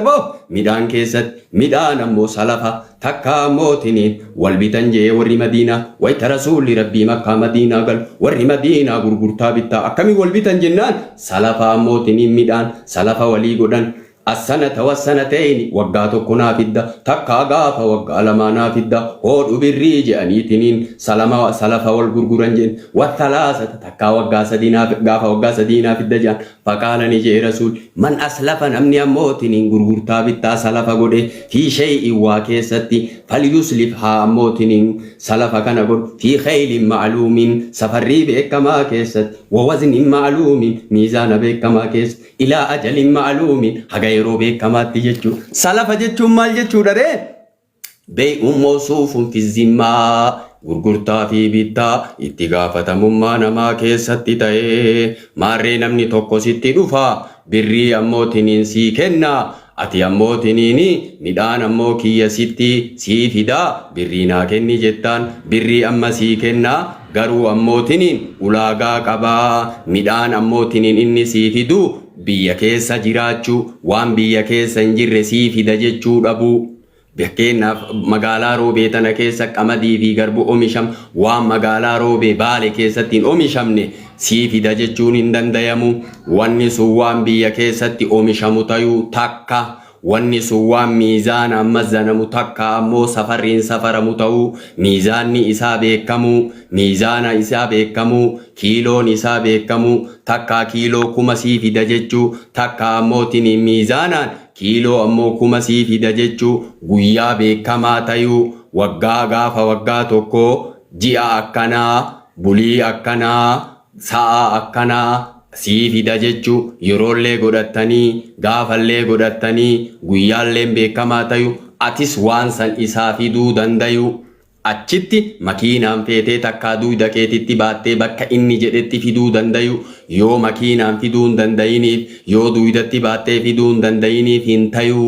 Aboo! Midhaan keessatti midhaan ammoo salafa takkaa ammoo tiniin wal bitan je'ee warri Madiinaa wayta Rasuulli Rabbii Makkaa Madiinaa galu warri Madiinaa gurgurtaa bittaa akkamiin wal bitan jennaan salafa ammoo tiniin midhaan salafa walii godhan As-sanata was-sanatayni waggaa tokko naa fidda takkaa gaafa waggaa lamaa naa fidda hoodhu birrii je'anii tiniin salama salafa wal gurguran je'en wa-thalaasata takkaa waggaa sadii naa gaafa waggaa sadii naa fidda je'an Faqaala ni je'e Rasuulli, Man aslafa namni ammoo tiniin gurgurtaa bittaa salafa godhe, fii shay'in waa keessatti, falyuslif haa ammoo tiniin salafa kana godhu, fii kaylin ma'luumin safarrii beekkamaa keessatti, wa waznin ma'luumin miizaana beekkamaa keessatti, ilaa ajalin ma'luumin haga yeroo beekkamaatti jechuudha. Salafa jechuun maal jechuudha ree? Bey Ummoosuu Funfizimmaa, gurgurtaa fi bittaa, itti gaafatamummaa namaa keessatti ta'ee, maarree namni tokko sitti dhufa, birrii ammoo tiniin sii kenna, ati ammoo tiniini, midhaan ammoo kiyya sitti, sii fida, birrii naa kenni jettaan, birrii amma sii kenna, garuu ammoo tiniin ulaagaa qaba, midhaan ammoo tiniin inni sii fidu, Biyya keessa jiraachuu, waan biyya keessa hin jirre sii fida jechuu dhabuu. Fakkeenyaaf magaalaa Roobee tana keessa qamadii fi garbu omisham waan magaalaa Roobee Baale keessatti hin omishamne sii fida jechuun hin dandayamu. Wanni sun waan biyya keessatti omishamu tayuu takka Wanni sun waan miizaanaan mazzanamu takkaa ammoo safarriin safaramu ta'uu, miizaanni isaa beekkamuu, miizaana isaa beekkamuu, kiiloon isaa beekkamuu, takkaa kiiloo kuma sii fida jechuu, takkaa ammoo tiniin miizaanaan kiiloo ammoo kuma sii fida jechuu, guyyaa beekkamaa tayuu, waggaa gaafa waggaa tokkoo, ji'a akkanaa, bulii akkanaa, Sa'a akkanaa sii fida jechu yeroollee godhattanii gaafallee godhattanii guyyaalleen beekamaa tayu atis waan san isaa fiduu dandayu achitti makiinaan feetee takkaa duyda keetitti baattee bakka inni jedhetti fiduu dandayu yoo makiinaan fiduu hin dandayiniif yoo duydatti baattee fiduu hin dandayiniif hin tayu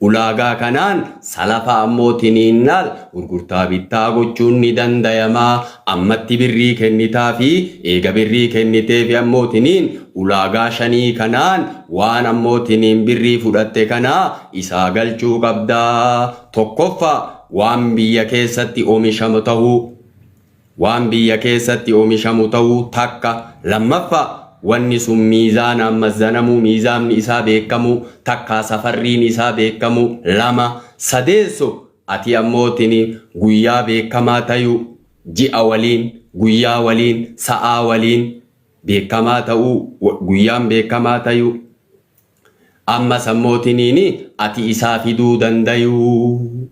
ulaagaa kanaan salafa ammoo tiniinnaal gurgurtaa bittaa gochuun ni dandayama Ammatti birrii kennitaafi eega birrii kenniteefi ammoo tiniin ulaagaa shanii kanaan waan ammoo tiniin birrii fudhatte kana isaa galchuu qabda. Tokkoffaa waan biyya keessatti omishamu tahuu waan biyya keessatti omishamu tahuu takka lammaffaa wanni sun miizaanaan mazzanamuu miizaamni isaa beekkamuu takkaa safarriin isaa beekkamuu lama sadeessoo Atii ammoo tini guyyaa beekkamaa tayuu ji'a waliin guyyaa waliin sa'aa waliin beekkamaa ta'uu guyyaan beekkamaa tayuu ammas ammoo tiniini ati isaa fiduu dandayuu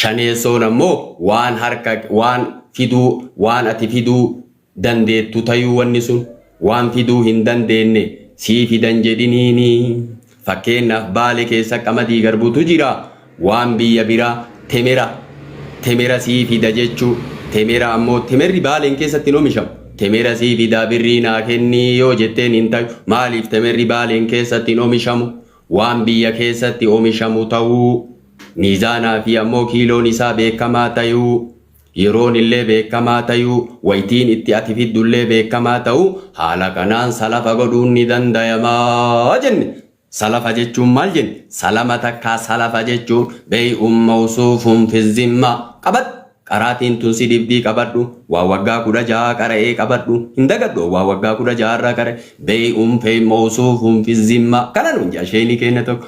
shaneessoon ammoo waan harka waan fiduu waan ati fiduu dandeettu tayuu wanni sun waan fiduu hin dandeenne sii fidan jedhiniini fakkeennaaf baale keessa qamadii garbutu jira waan biyya biraa temera temera sii fida jechuu temera ammoo temerri baaleen keessatti hin omishamu temera sii fidaa birrii naa kennii yoo jetteen hin tayu maaliif temerri baaleen keessatti hin omishamu waan biyya keessatti omishamu ta'uu miizaanaa fi ammoo kiiloon isaa beekamaa tayuu Yeroonillee beekkamaa tayuu, waytiin itti ati fiddullee beekkamaa tahu, haala kanaan salafa godhuun ni dandayama jenne. Salafa jechuun maal jenne? Salama takkaa salafa jechuun, Bey'un mawsuufun fi zimma. Qabadhu! Qaraatiin tun si dhibdii qabadhu. Waa waggaa 16 qara'ee qabadhu. Hin dagadhu an waa waggaa 16 irraa qara'e. Bey'un fey mawsuufun fi zimma. Kana nuun ja'a sheeyni keenna tokko.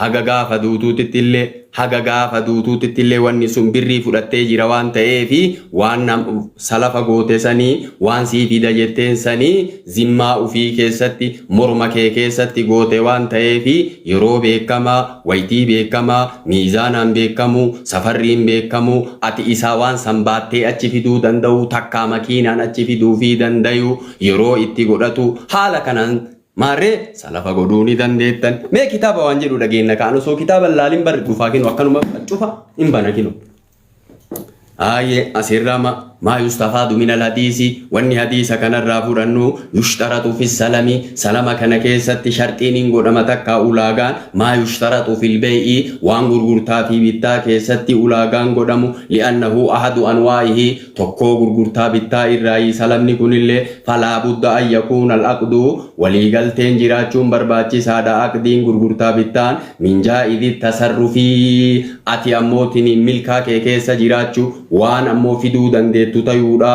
Haga gaafa duutuutittillee, haga gaafa duutuutittillee wanni sun birrii fudhattee jira waan ta'eefi waan nam, salafa goote sanii, waan sii fida jetteen sanii zimmaa ufii keessatti, morma kee keessatti goote waan ta'eefi yeroo beekkamaa, waytii beekkamaa, miizaanaan beekkamuu, safarriin beekkamuu, ati isaa waan san baattee achi fiduu danda'uu takkaa makiinaan achi fiduufii dandayuu yeroo itti godhatuu haala kanaan Maarree salafa godhuu ni dandeettan. Mee kitaaba waan jedhu dhageenna kaan osoo kitaaba hin laalin barri dhufaa kinu akkanuma cufa hin bana kinu. Aayee asirraa ma maa yustafaadu minal hadiisi wanni hadiisa kanarraa fudhannu yushtaratu fi salami salama kana keessatti sharxiin hin godhama takka ulaagaan maa yushtaratu fil beeyi waan gurgurtaa fi bittaa keessatti ulaagaan godhamu li'annahu ahadu anwaa'ihi tokkoo gurgurtaa bittaa irraayi salamni kunillee falaa budda an yakuuna al aqdu walii galteen jiraachuun barbaachisaadha aqdiin gurgurtaa bittaan min jaa'izi tasarrufi ati ammoo tiniin milkaa kee keessa jiraachu waan ammoo fiduu dandeettu tayuudha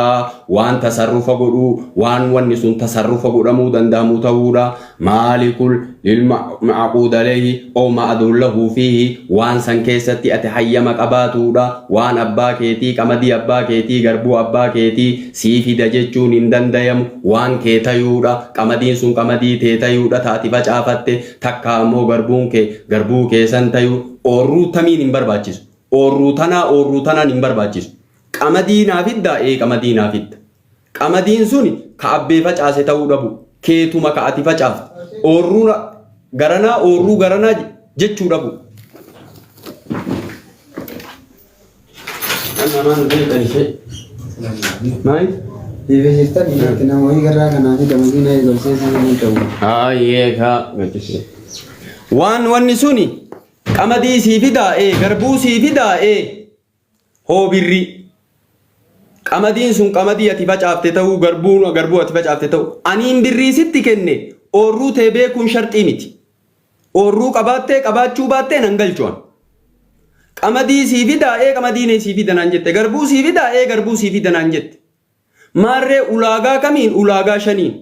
waan tasarrufa godhuu waan wanni sun tasarrufa godhamuu dandahamu tahuudha maalikul lil ma'aquud alayhi aw ma'aduun lahu fiihi waan san keessatti ati hayyama qabaatuudha waan abbaa keetii qamadii abbaa keetii garbuu abbaa keetii sii fida jechuun hin dandayamu waan kee tayuudha qamadiin sun qamadii tee tayuudha ta ati facaafatte takkaa ammoo garbuun kee garbuu kee san tayu oorruu tamiin hin barbaachisu oorruu tanaa oorruu tanaan hin barbaachisu qamadii naa fiddaa ee qamadii naa fidda Qamadiin suni ka abbee facaase ta'uu dhabuu, keetuma ka ati facaafte, oorruu garanaa, oorruu garanaa jechuu dhabuu. Kan namaa nu beekan ishee. Maali? Dhiibisiiftan dhiirti namoonni garraa kanaa fi damasii na eegalsee sana ni ta'u. Haayee ka gaddisee. Waan wanni suni qamadii sii fidaa ee garbuu sii fidaa ee hoo birrii qamadiin sun qamadii ati facaafte ta'uu garbuun garbuu ati facaafte ta'u aniin birrii sitti kenne oorruu tee beekuun sharxii miti oorruu qabaattee qabaachuu baattee nan galchuan qamadii sii fidaa ee qamadii nee sii fida naan jette garbuu sii fidaa ee garbuu sii fida naan jette maarree ulaagaa kamiin ulaagaa shaniin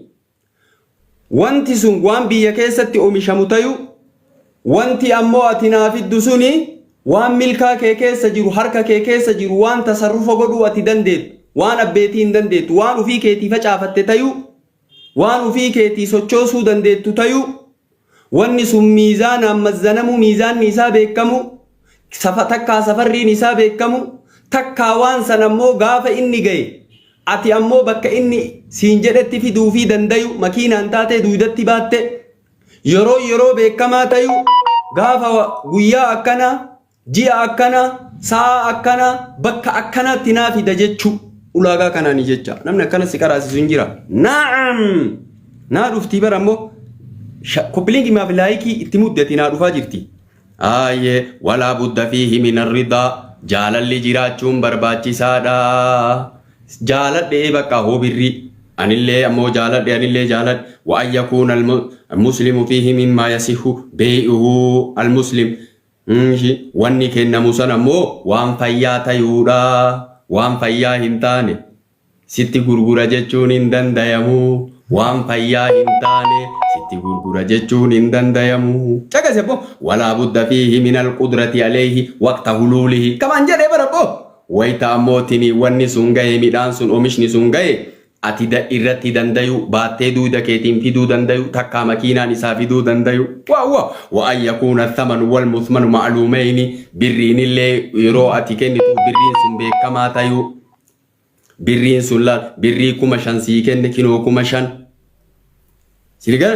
Wanti sun waan biyya keessatti omishamu tayuu, wanti ammoo ati naa fiddu suni waan milkaa kee keessa jiru, harka kee keessa jiru, waan tasarrufa godhuu ati dandeettu, waan abbeetii hin dandeettu, waan ufii keetii facaafatte tayuu, waan ufii keetii sochoosuu dandeettu tayuu, Wanni sun miizaanaan mazzanamuu, miizaanni isaa beekkamuu, safa, takkaa safarriin isaa beekkamuu, takkaa waan san ammoo gaafa inni gaye ati ammoo bakka inni siin jedhetti fiduufii dandayu, makiinaan taatee duydatti baatte, yeroon yeroo beekkamaa tayu, gaafa guyyaa akkanaa, ji'a akkana, sa'a akkana, bakka akkanaatti naa fida jechuu ulaagaa kanaani jecha. Namni akkana si qaraasisu hin jira. Naam! Naa dhuftii bara immoo koppilingi maaf laayikii itti muddati naa dhufaa jirti. Aayee walaa budda fi himina ridaa jaalalli jiraachuun barbaachisaadha. Jaaladhee bakka hoo birrii. Anillee ammoo jaaladhe anillee jaaladhe wa an yakuuna muslimu fiihi mimmaa yasihu beey'uhu al muslim. Ishi, wanni kennamu san ammoo waan fayyaa tayuudha, waan fayyaa hin taane sitti gurgura jechuun hin dandayamu, waan fayyaa hin taane sitti gurgura jechuun hin dandayamu. Caqasi abboo, walaa budda fiihi minal qudrati aleyhi waqta huluulihi kamaan jedhe bar abboo, wayta ammoo tini wanni sun gaye midhaan sun omishni sun gaye ati da irratti dandayu baattee duuda keetiin fiduu dandayu takkaa makiinaan isaa fiduu dandayu wa wa wa an yakuuna thamanu wal muthmanu ma'luumeyni birriinillee yeroo ati kennitu birriin sun beekamaa tayuu birriin sun laal birrii kuma shan sii kenne kinoo kuma shan siligaa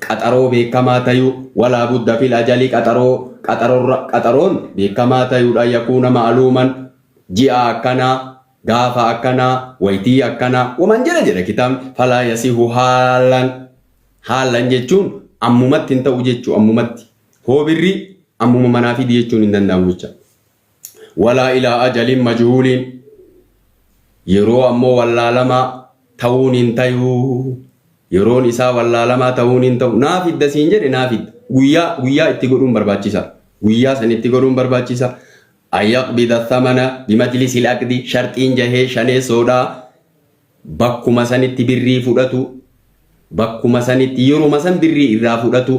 Qaxaroo beekkamaa tayuu, Walaa budda fil ajali qaxaroo, qaxarorra, qaxaroon beekkamaa tayuudha yakuuna ma'aluuman, ji'a akkanaa, gaafa akkanaa, waytii akkanaa, waman jedha jedha kitaabni, falaa yasihu haalan, haalan jechuun ammumatti hin ta'u jechuu ammumatti, hoo birrii ammuma manaa fidi jechuun hin danda'amu jecha. Walaa ilaa ajalin majuhuuliin yeroo ammoo wallaalamaa ta'uun hin tayu. Yeroon isaa wallaalamaa ta'uun hin ta'u. Naa fidda siin jedhe naa fidda. Guyyaa guyyaa itti godhuun barbaachisa. Guyyaa san itti godhuun barbaachisa. Ayaqbida thamana bimajlisil aqdi sharxiin jahee shaneessoodha. Bakkuma sanitti birrii fudhatu. Bakkuma sanitti yeruma san birrii irraa fudhatu.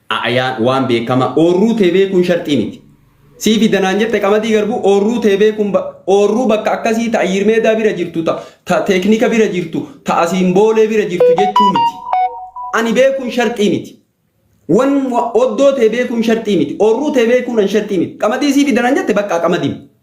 a Ayaan waan beekama oorruu tee beekuun sharxii miti. Sii fi danaan jette qamadii garbuu oorruu tee beekuun ba- oorruu bakka akkasii ta Ayyiir Meedaa bira jirtu ta, ta teeknika bira jirtu ta asiin boolee bira jirtu jechuu miti. Ani beekuun sharxii miti. Wan wa- oddoo tee beekuun sharxii miti. Oorruu tee beekuun an sharxii miti. Qamadii sii fi danaan jette bakka qamadii.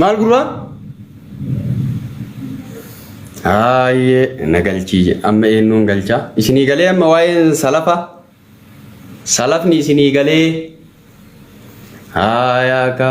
maal gurbaa Haayee na galchii jedhe. amma eenyuun galchaa isinii galee amma waa'een salafa salafni isinii galee haayaa ka